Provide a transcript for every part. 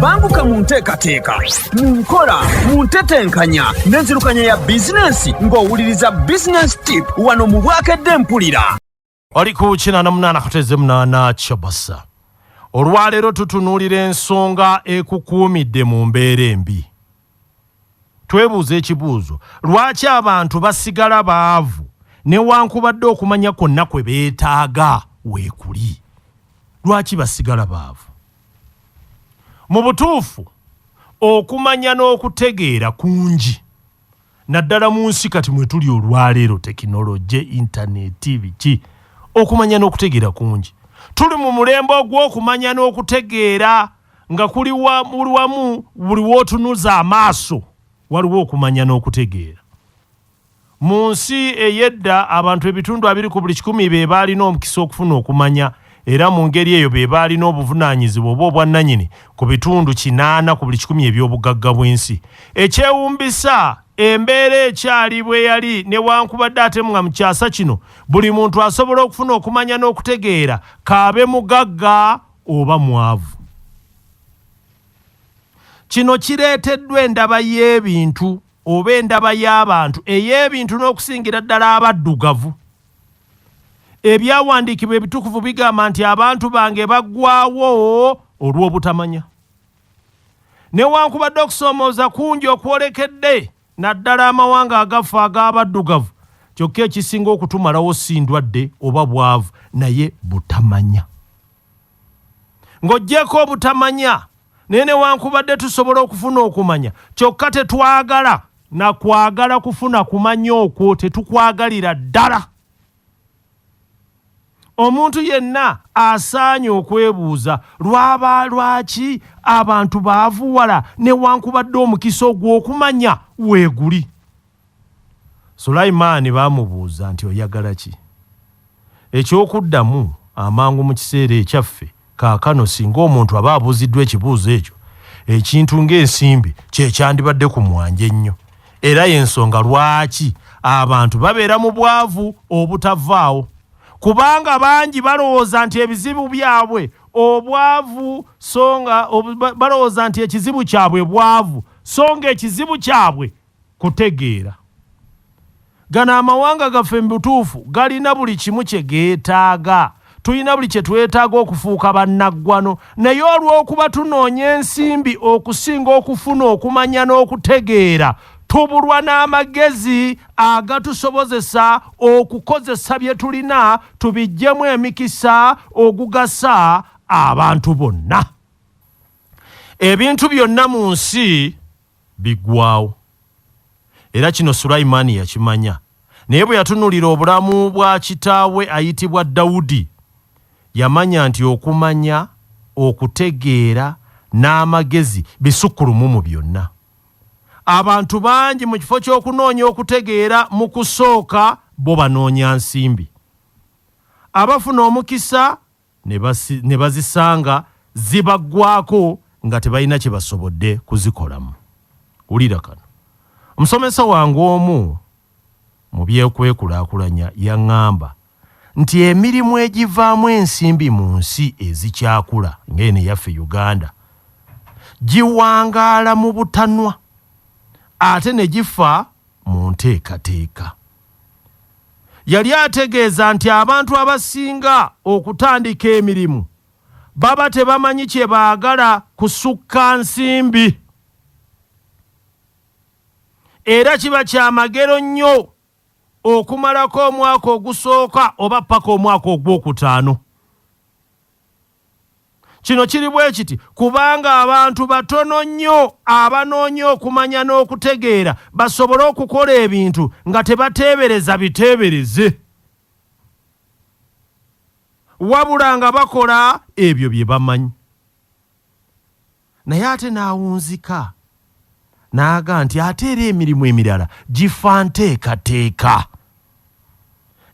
banguka mu nteekateeka mu nkola mu ntetenkanya n'enzirukanya ya bizinensi ng'owuliriza bizinensi tip wano mu bwakedde mpulira oli ku kinaana munaana kuteze munaana kyabasa olwaleero tutunuulira ensonga ekukuumidde mu mbeera embi Twebuuza ekibuuzo, lwaki abantu basigala baavu newankubadde okumanya kwonna kwe beetaaga weekuli? Lwaki basigala baavu? Mu butuufu, okumanya n'okutegeera kungi naddala mu nsi kati mwe tuli olwaleero, tekinologye, intaneeti, biki. Okumanya n'okutegeera kungi. Tuli mu mulembe ogw'okumanya n'okutegeera. nga kuli buli wamu buli wootunuza amaaso waliwo okumanya n'okutegeera mu nsi ey'edda abantu ebitundu abiri ku buli kikumi be baalina omukisa okufuna okumanya era mu ngeri eyo be baalina obuvunaanyizibwa oba obwannanyini ku bitundu kinaana ku buli kikumi eby'obugagga bw'ensi ekyewumbisa embeera ekyali bwe yali newankubadde ate nga mu kyasa kino buli muntu asobola okufuna okumanya n'okutegeera kaabe mugagga oba mwavu. Kino kireeteddwa endaba y'ebintu oba endaba y'abantu ey'ebintu n'okusingira ddala abaddugavu. Ebyawandiikibwa ebitukuvu bigamba nti abantu bange baggwawo olw'obutamanya. Newankubadde okusoomooza kungi okwolekedde, naddala amawanga agafa ag'abaddugavu kyokka ekisinga okutumalawo si ndwadde oba bwavu naye butamanya ng'ogyeko obutamanya naye newankubadde tusobola okufuna okumanya kyokka tetwagala nakwagala kufuna kumanya okwo tetukwagalira ddala Omuntu yenna asaanye okwebuuza lwaba lwaki abantu baavuwala newankubadde omukisa ogw'okumanya weeguli. Sulaiman baamubuuza nti oyagala ki? Eky'okuddamu amangu mu kiseera ekyaffe Kaakano singa omuntu aba abuuziddwa ekibuuzo ekyo, ekintu ng'ensimbi kye kyandibadde ku mwanja ennyo. Era y'ensonga lwaki abantu babeera mu bwavu obutavaawo, kubanga bangi balowooza nti ebizibu byabwe obwavu so nga balowooza nti ekizibu kyabwe bwavu so ng'ekizibu kyabwe kutegeera. Gano amawanga gaffe mu butuufu galina buli kimu kye geetaaga. Tulina buli kye twetaaga okufuuka bannaggwano, naye olw'okuba tunoonya ensimbi okusinga okufuna okumanya n'okutegeera, tubulwa n'amagezi agatusobozesa okukozesa bye tulina tubiggyemu emikisa ogugasa abantu bonna. Ebintu byonna mu nsi. biggwaawo. Era kino Sulaiman yakimanya. Naye bwe yatunulira obulamu bwa kitaawe ayitibwa Dawudi, yamanya nti okumanya, okutegeera, n'amagezi bisukkulumu mu byonna. Abantu bangi mu kifo ky'okunoonya okutegeera mu kusooka bo banoonya nsimbi. Abafuna omukisa ne bazisanga zibaggwaako nga tebalina kye basobodde kuzikolamu. Wulira kano. Omusomesa wange omu mu byekwekulaakulanya yaŋŋamba nti emirimu egivaamu ensimbi mu nsi ezikyakula ng'eno eyaffe Uganda giwangaala mu butanwa ate ne gifa mu nteekateeka. Yali ategeeza nti abantu abasinga okutandika emirimu baba tebamanyi kye baagala kusukka nsimbi era kiba kya magero nnyo okumalako omwaka ogusooka oba ppaka omwaka ogwokutaano. Kino kiri bwe kiti kubanga abantu batono nnyo abanoonya okumanya n'okutegeera basobole okukola ebintu nga tebateebereza biteebereze, wabula nga bakola ebyo bye bamanyi. naye ate n'awunzika n'aga nti ate era emirimu emirala gifa nteekateeka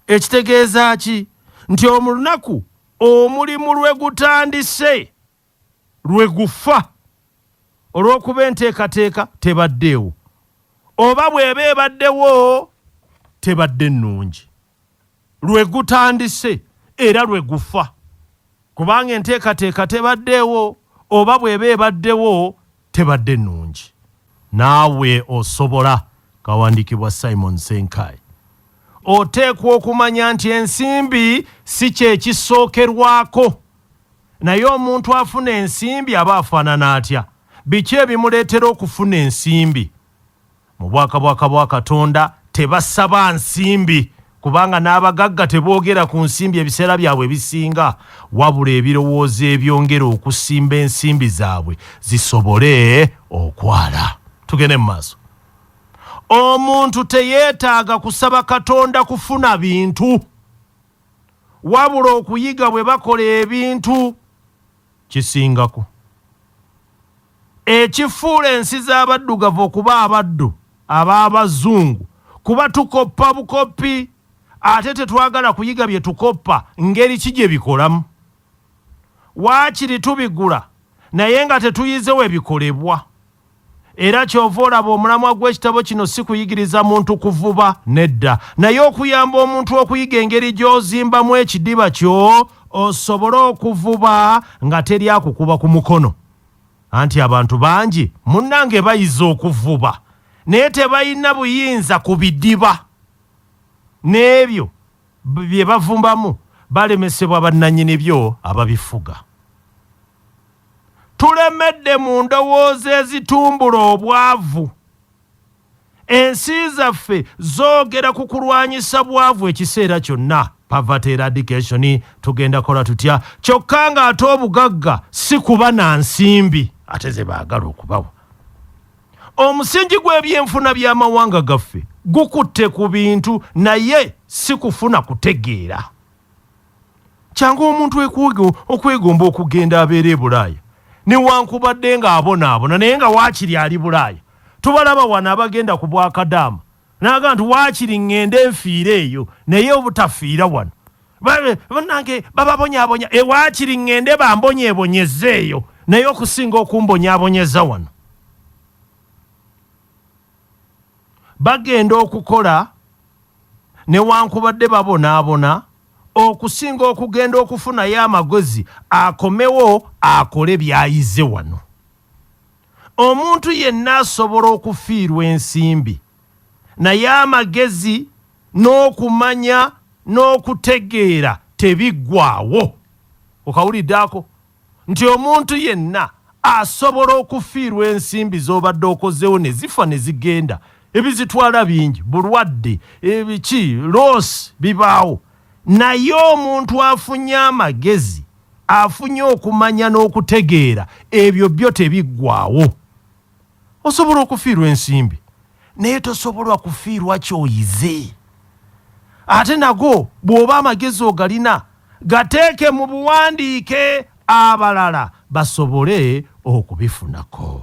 ekitegeeza ki nti omulunaku omulimu lwe gutandise lwe gufa olw'okuba enteekateeka tebaddeewo oba bw'eba ebaddewo tebadde nnungi lwe gutandise era lwe gufa kubanga enteekateeka tebaddeewo oba bw'eba ebaddewo tebadde nnungi naawe osobola kawandiikibwa simon senkai oteekwa okumanya nti ensimbi si kyekisookerwako naye omuntu afuna ensimbi aba afaanana atya biki ebimuleetera okufuna ensimbi Mu bwakabwaka bwa Katonda tebasaba nsimbi, kubanga n'abagagga teboogera ku nsimbi ebiseera byabwe ebisinga, wabula ebirowoozo ebyongera okusimba ensimbi zaabwe zisobole okwala. Tugende mu maaso. Omuntu teyeetaaga kusaba Katonda kufuna bintu, wabula okuyiga bwe bakola ebintu. kisingako ekifuula ensi z'abaddugavu okuba abaddu ab'abazungu kuba tukoppa bukoppi ate tetwagala kuyiga bye tukoppa ngeri ki gye bikolamu. Waakiri tubigula naye nga tetuyize we bikolebwa. Era kyova olaba omulamwa gw'ekitabo kino si kuyigiriza muntu kuvuba, nedda, naye okuyamba omuntu okuyiga engeri gy'ozimbamu ekidiba kyo osobole okuvuba nga teri akukuba ku mukono. Anti abantu bangi munnange bayize okuvuba naye tebalina buyinza ku bidiba n'ebyo bye bavumbamu, balemesebwa bannanyini byo ababifuga. tulemedde mu ndowooza ezitumbula obwavu. Ensi zaffe zoogera ku kulwanyisa bwavu ekiseera kyonna, poverty eradication, tugenda kola tutya, kyokka ng'ate obugagga si kuba na nsimbi ate ze baagala okubawa. Omusingi gw'ebyenfuna by'amawanga gaffe gukutte ku bintu naye si kufuna kutegeera. kyangu omuntu okwegomba okugenda abeera ebulaaya newankubadde nga abonaabona naye nga waakiri ali bulaaya tubalaba wano abagenda ku bwakadaama naaga nti waakiri ŋŋende enfiire eyo naye obutafiira wano banange bababonyabonya ewaakiri eh, ŋŋende bambonyebonyeza eyo naye okusinga okumbonyabonyeza wano bagenda okukola newankubadde babonaabona okusinga okugenda okufunayo amagozi akomewo akole byayize wano omuntu yenna asobola okufiirwa ensimbi naye amagezi n'okumanya n'okutegeera tebiggwawo okawulidde ako nti omuntu yenna asobola okufiirwa ensimbi z'obadde okozeewo ne zifa ne zigenda ebizitwala bingi bulwadde ebiki loosi bibaawo naye omuntu afunye amagezi afunye okumanya n'okutegeera ebyo byo tebiggwawo osobola okufiirwa ensimbi naye tosobola kufiirwa kyoyize ate nago bw'oba amagezi ogalina gateeke mu buwandiike abalala basobole okubifunako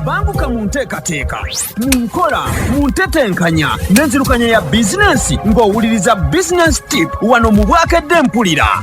banguka mu nteekateeka mu nkola mu ntetenkanya n'enzirukanya ya bizinensi ng'owuliriza bizinensi tip wano mu bwakedde mpulira